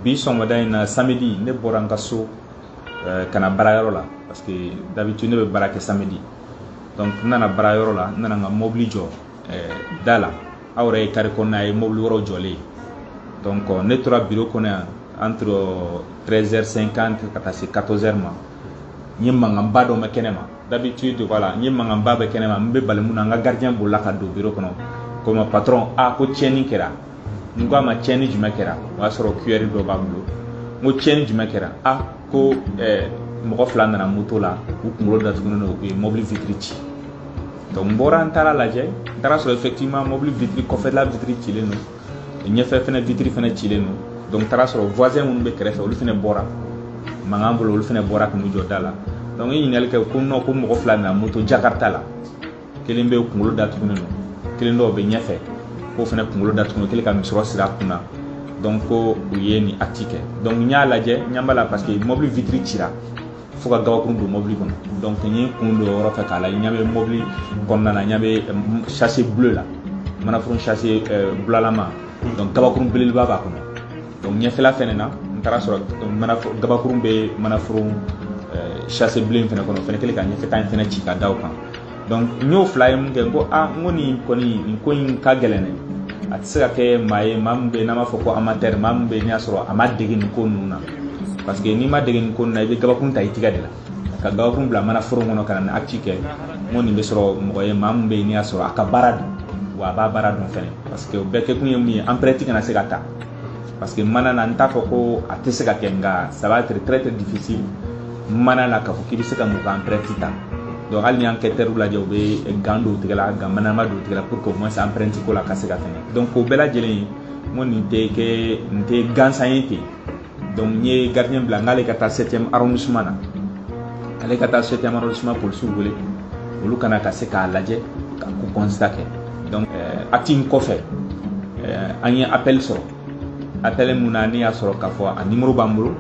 bi sɔgɔmada in na samedi ne bɔra n ka so eh, ka na baarayɔrɔ la parce que d'habitude ne bɛ baara kɛ samedi donc n nana baarayɔrɔ la n nana n ka mobili jɔ eh, da la aw yɛrɛ ye carré kɔnɔna ye mobili wɛrɛw jɔlen ye donc euh, ne tora biro kɔnɔ yan entre 13h50 ka taa se 14h ma n ye mankanba dɔ mɛn kɛnɛ ma d'habitude voilà n ye mankanba bɛ kɛnɛ ma n bɛ balimu na n ka gardien bolila ka don biro kɔnɔ ko n ma patron a ko tiɲɛni kɛra n ko a ma tiɲɛni jumɛn kɛra o y'a sɔrɔ kuyɛri dɔ b'a bolo n ko tiɲɛni jumɛn kɛra a ko mɔgɔ fila nana moto la u kunkolo datugulen don u ye mɔbili vitre ci donc n bɔra n taara lajɛ n taara sɔrɔ effectivement mɔbili vitre kɔfɛla vitre cilen don ɲɛfɛ fɛnɛ vitre fɛnɛ cilen don donc n taara sɔrɔ voisin minnu bɛ kɛrɛfɛ olu fɛnɛ bɔra mankan bolo olu fɛnɛ bɔra k'u jɔ da la donc n ye ɲininkali kɛ ko non ko mɔgɔ fila nana moto jakarta la kelen bɛ kunkolo datugulen don kelen dɔw bɛ ɲɛfɛ k'o fɛnɛ kunkolo datugulen kelen ka misɔrɔ siri a kun na donc ko u ye nin acte kɛ donc n y'a lajɛ n ɲɛ b'a la parce que mɔbili vitre cira fo ka gabakurun don mɔbili kɔnɔ donc n ye kun don o yɔrɔ fɛ k'a lajɛ n ɲɛ bɛ mɔbili kɔnɔna na n ɲɛ bɛ sachet bleu la manaforun sachet bulalama donc gabakurun belebeleba b'a kɔnɔ donc ɲɛfɛla fɛnɛ na n taara sɔrɔ gabakurun bɛ manaforun sachet bilen fɛnɛ kɔnɔ o fɛnɛ kɛlen ka ɲɛfɛta in fɛnɛ ci ka da o kan donc n y'o fila ye min kɛ n ko a n ko nin kɔni nin ko in ka gɛlɛn dɛ a tɛ se ka kɛ maa ye maa min bɛ yen n'an b'a fɔ ko amateur maa min bɛ yen n'i y'a sɔrɔ a ma dege nin ko ninnu na parce que n'i ma dege nin ko ninnu na i bɛ gabakurun ta i tigɛ de la ka gabakurun bila manaforo kɔnɔ ka na acte kɛ n ko nin bɛ sɔrɔ mɔgɔ ye maa min bɛ yen n'i y'a sɔrɔ a ka baara don wa a b'a baara dɔn fɛnɛ parce que o bɛɛ kɛkun ye min ye empreinte kana se ka ta parce que mana na n t'a fɔ ko a tɛ se ka kɛ nka ça va être très très difficile mana na k'a fɔ k'i bɛ se ka mɔgɔ ka empreinte ta donc hali n'i ye enquêteurw lajɛ u bɛ gant don tigɛ la gant manama don tigɛ la pour que au moins empreinte ko la ka se ka tɛmɛ donc o bɛɛ lajɛlen n ko nin tɛ kɛ nin tɛ gansan ye ten donc n ye gardien bila n k'ale ka taa septième arrondissement na ale ka taa septième arrondissement polisiw wele olu ka na ka se k'a lajɛ ka ko constat kɛ donc euh, acte in kɔfɛ euh, an ye appel sɔrɔ appel min na ne y'a sɔrɔ k'a fɔ a numéro b'an bolo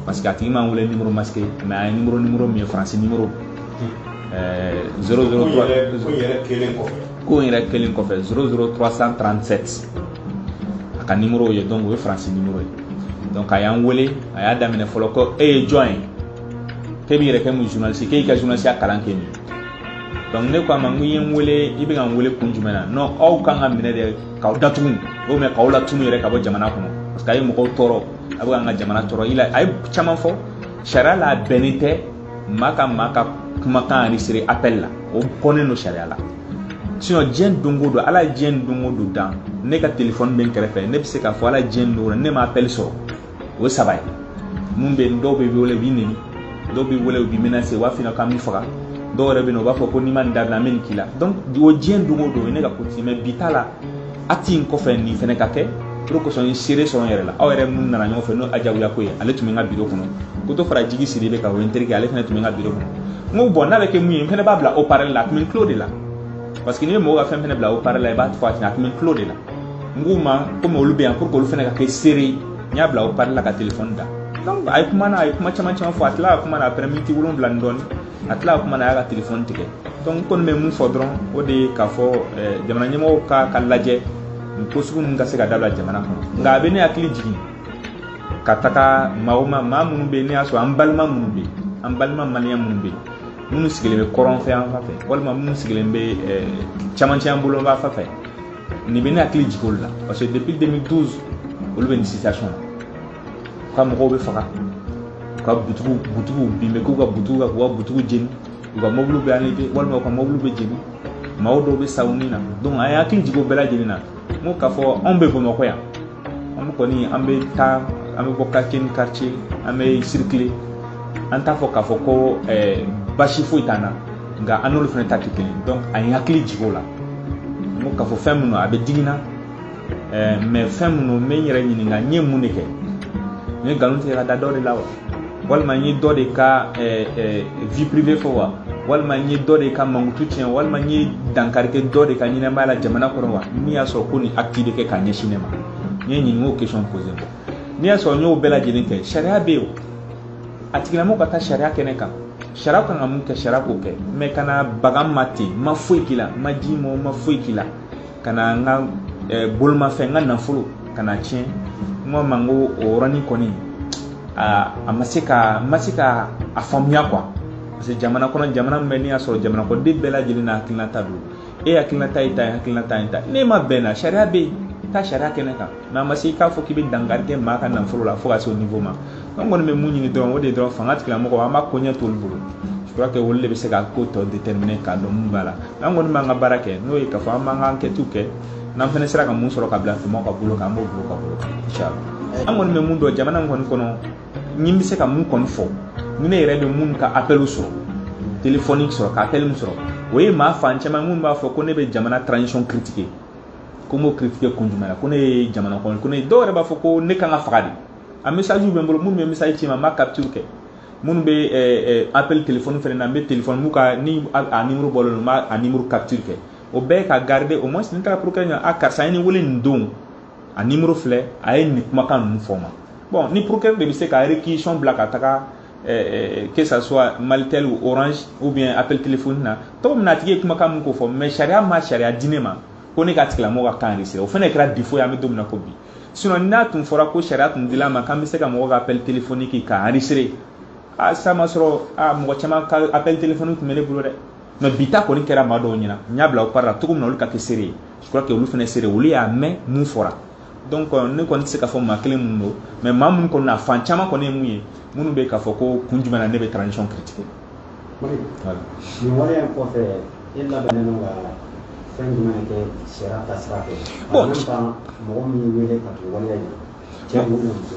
parce que a tigi m'an wele numéro masqué mais a ye numéro numéro min ye faransi numéro 003 ko in yɛrɛ kelen kɔfɛ 00337 a ka numéro ye donc o ye faransi numéro ye donc a y'an wele a y'a daminɛ fɔlɔ ko e ye jɔn ye k'e b'i yɛrɛ kɛ mun journaliste k'e y'i ka journalisiya kalan kɛ min donc ne ko a ma n ko i ye n wele i bɛ ka n wele kun jumɛn na non aw kan ka minɛ de k'aw datugu ou même k'aw latunu yɛrɛ ka bɔ jamana kɔnɔ parce que a ye mɔgɔw tɔɔrɔ a bɛ k'an ka jamana tɔɔrɔ i la a ye caman fɔ sariya la a bɛnnen tɛ maa ka maa ka kumakan enregistré appel la o kɔnnen don sariya la sinon diɲɛ don o don ala ye diɲɛ don o don dan ne ka telefɔni bɛ n kɛrɛfɛ ne bɛ se k'a fɔ ala ye diɲɛ don o don ne ma appel sɔrɔ o ye saba ye mun bɛ yen dɔw bɛ wele u b'i neni dɔw bɛ wele u b'i menacer u b'a f'i ɲɛna k'an b'i faga dɔw yɛrɛ bɛ yen u b'a fɔ ko n'i ma nin dabila an bɛ nin k'i la donc o diɲɛ don o don o ye ne ka côté mais bi ta la acte in kɔfɛ nin fɛnɛ ka kɛ o de kosɔn n ye seere sɔrɔ n yɛrɛ la aw yɛrɛ minnu nana ɲɔgɔn fɛ n'o adiawiakoye ale tun bɛ n ka biro kɔnɔ ko to fara jigi sidibe kan o ye n terikɛ ale fana tun bɛ n ka biro kɔnɔ n ko bon n'a bɛ kɛ mun ye n fana b'a bila haut-parleur la a tun bɛ n tulo de la parce que n'i ye mɔgɔ ka fɛn fana bila haut-parleur la i b'a fɔ a ɲɛna a tun bɛ n tulo de la n k'u ma komi olu bɛ yan pour que olu fana ka kɛ seere ye n y'a bila haut-parleur la ka telefɔni da donc a ye kuma na a ye kuma caman caman fɔ a tilala ka kuma na après miniti wolonwula ni dɔɔni a tila kuma na a y'a ka telefɔni tigɛ donc n kɔni bɛ mun fɔ dɔrɔn o de ye k'a fɔ eh, jamana ɲɛmɔgɔw ka k'a lajɛ nin ko sugu ninnu ka se ka dabila jamana kɔnɔ nka a bɛ ne hakili jigin ka taga maa o maa maa minnu bɛ yen ne y'a sɔrɔ an balima minnu bɛ yen an balima maliyɛn minnu bɛ yen minnu sigilen bɛ kɔrɔn fɛ yan fan fɛ walima minnu sigilen bɛ eh, camancɛ an bolo yan fan fɛ nin bɛ ne hakili jigin olu la parce que depuis 2012 olu bɛ nin situation na ka mɔgɔw bɛ faga u ka butigi butigi bin bɛ k'u ka butigi kan k'u ka butigi jeni u ka mɔbiliw bɛ enlevé walima u ka mɔbiliw bɛ jeni maaw dɔw bɛ sa u ni na donc a ye hakili jigin o bɛɛ lajɛlen na n ko k'a fɔ anw bɛ bamakɔ yan an kɔni an bɛ taa an bɛ bɔ quartier ni quartier an bɛ circuler an t'a fɔ k'a fɔ ko eh, basi foyi t'an na nka an n'olu fana ta tɛ kelen donc a ye hakili jigin o la n ko k'a fɔ fɛn minnu a bɛ digi n na ɛɛ mais fɛn minnu n bɛ n yɛrɛ ɲininka n ye mun de kɛ n ye nkalon tigɛ ka da dɔ de la wa walima n ye dɔ de ka ɛɛ ɛɛ vie privée fɔ wa walima n ye dɔ de ka mankutu tiɲɛ walima n ye dankari kɛ dɔ de ka ɲɛnamaya la jamana kɔnɔ wa min y'a sɔrɔ ko nin acte bɛ kɛ ka ɲɛsin ne ma n ye ɲininka o question posé bon n'i y'a sɔrɔ n y'o bɛɛ lajɛlen kɛ sariya bɛ yen o a tigilamɔgɔ ka taa sariya kɛnɛ kan sariya kan ka mun kɛ sariya k'o kɛ mais kana baga n ma ten n ma foyi k'i la ma ji ma ma foyi k'i la ka na n ka bolomafɛn n ka nafolo ka na tiɲɛ n ko ma n ko o yɔrɔnin kɔni an ma se ka ma se k'a faamuya quoi parce que jamana kɔnɔ jamana min bɛ n'i y'a sɔrɔ jamanakɔden bɛɛ lajɛlen n'a hakilinata don e hakilinata y'i ta ye hakilinata y'i ta n'e ma bɛn na sariya bɛ yen taa sariya kɛnɛ kan mais a ma se i k'a fɔ k'i bɛ dankari kɛ maa ka nafolo la fo ka se o niveau ma an kɔni bɛ mun ɲini dɔrɔn o de ye dɔrɔn fanga tigilamɔgɔ an b'a koɲɛ t'olu bolo je crois que olu de bɛ se ka ko tɔ déterminer k'a dɔn mun b'a la an kɔni b'an ka baara kɛ n'o ye k'a fɔ an b'an ka enquêtes kɛ n'an fana sera ka mun sɔrɔ k'a bila mɔgɔ ka bolo kan an b'o bila u ka bolo kan inchallah an kɔni bɛ mun dɔn jamana in kɔni kɔnɔ ni n bɛ se ka mun kɔni fɔ ni ne yɛrɛ bɛ mun ka appel sɔrɔ telefɔni sɔrɔ ka appel min sɔrɔ o ye maa fan caman minnu b'a fɔ ko ne bɛ jamana transition critiquer ko n b'o critiquer kun jumɛn na ko ne ye jamana kɔnɔ ko ne dɔw yɛrɛ b'a fɔ ko ne kan ka faga de a message bɛ n bolo minnu bɛ message ci n ma n b'a capture kɛ minnu bɛ eh, eh, appel téléphone fɛnɛ na n bɛ téléphone min kan ni a numéro bɔlen don n b'a a numéro capture kɛ o bɛɛ ka garder au moins ni n taara procureur ɲɛ a karisa ye ne wele nin don a numéro filɛ a ye nin kumakan ninnu fɔ n ma bon ni procureur de bɛ se ka réquisition bila ka taga Eh, eh, que ça soit Malitel ou Orange ou bien appel téléphone na tɔgɔ min na a tigi ye kumakan min ko fɔ mais sariya ma sariya di ne ma ko ne ka tigilamɔgɔ ka kan enregistré o fana kɛra défaut ye an bɛ don min na ko bi sinon n'a tun fɔra ko sariya tun dila an ma k'an bɛ se ka mɔgɔ ka appel téléphonique ka enregistré a sa ma sɔrɔ a mɔgɔ caman ka appel téléphonique tun bɛ ne bolo dɛ mais bi ta kɔni kɛra maa dɔw ɲɛna n y'a bila haut-parleur la cogo min na olu ka kɛ seere ye je crois que olu fana seere olu y'a mɛn mun fɔra donc euh, ne kɔni tɛ se k'a fɔ maa kelen minnu don mais maa minnu kɔni na fan caman kɔni ye mun ye minnu bɛ k'a fɔ ko kun jumɛn na ne bɛ transition critiquer nin waleya in kɔfɛ e labɛnnen don ka fɛn jumɛn kɛ sariya taasira fɛ en même temps mɔgɔ min y'i wele ka don waleya in cɛ don ou muso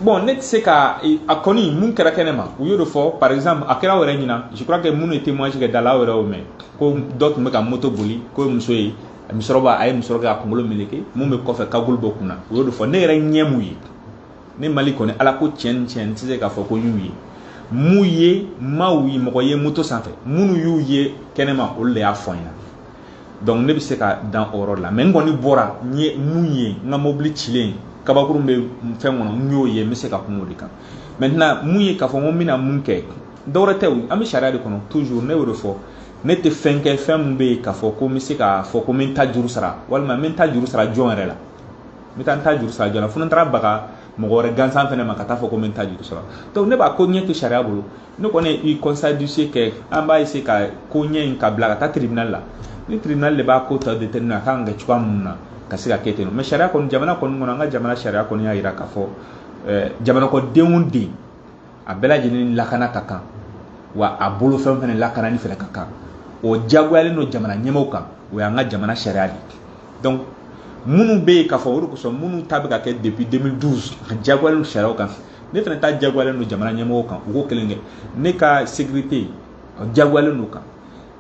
bon ne tɛ se ka a kɔni mun kɛra kɛnɛ ma u y'o de fɔ par exemple a kɛra aw yɛrɛ ɲɛna je crois que minnu ye témoignage kɛ da la aw yɛrɛ y'o mɛn ko dɔ tun bɛ ka moto boli k'o ye muso ye a musɔrɔ b'a a ye musɔrɔ k'a kunkolo meleke mun bɛ kɔfɛ cagoule b'o kunna o y'o de fɔ ne yɛrɛ ɲɛ mun ye ne Malick kɔni ala ko tiɲɛ ni tiɲɛ n tɛ se k'a fɔ ko n y'u ye mun ye maaw ye mɔgɔ ye moto sanfɛ minnu y'u ye kɛnɛma olu de y'a fɔ n ɲɛna donc ne bɛ se ka dan o yɔrɔ la mais n kɔni bɔra n ye mun ye n ka mobili cilen kabakurun bɛ fɛn kɔnɔ n y'o ye n bɛ se ka kuma o de kan maintenant mun ye k'a fɔ n ko n bɛna mun kɛ dɔwɛrɛ tɛ o an bɛ sariya de kɔnɔ toujours ne y'o de fɔ ne tɛ fɛn kɛ fɛn min bɛ yen k'a fɔ ko n bɛ se k'a fɔ ko n bɛ n ta juru sara walima n bɛ n ta juru sara jɔn yɛrɛ la n bɛ taa n ta juru sara jɔn na fo ni n taara baga mɔgɔ wɛrɛ gansan fɛnɛ ma ka taa fɔ ko n bɛ n ta juru sara donc ne b'a koɲɛ to sariya bolo ne kɔni ye constat d'huissier kɛ an b'a essayer ka koɲɛ in ka bila ka taa tribunal la ni tribunal de b'a ko ta déterminer a kan ka kɛ cogoya minnu na ka se ka kɛ ten mais sariya kɔni jamana kɔni kɔnɔ an ka jamana sariya kɔni y'a jira k'a fɔ jamana kɔnɔ den o den a bɛɛ lajɛlen lakana ka kan wa a bolofɛn fɛnɛ lakanani fɛnɛ ka kan o jagoyalen don jamana ɲɛmɔgɔw kan o y'an ka jamana sariya de donc minnu bɛ yen k'a fɔ o de kosɔn minnu ta bɛ ka kɛ depuis 2012 a jagoyalen don sariya kan ne fɛnɛ ta jagoyalen don jamana ɲɛmɔgɔw kan u k'o kelen kɛ ne ka sécurité a jagoyalen don u kan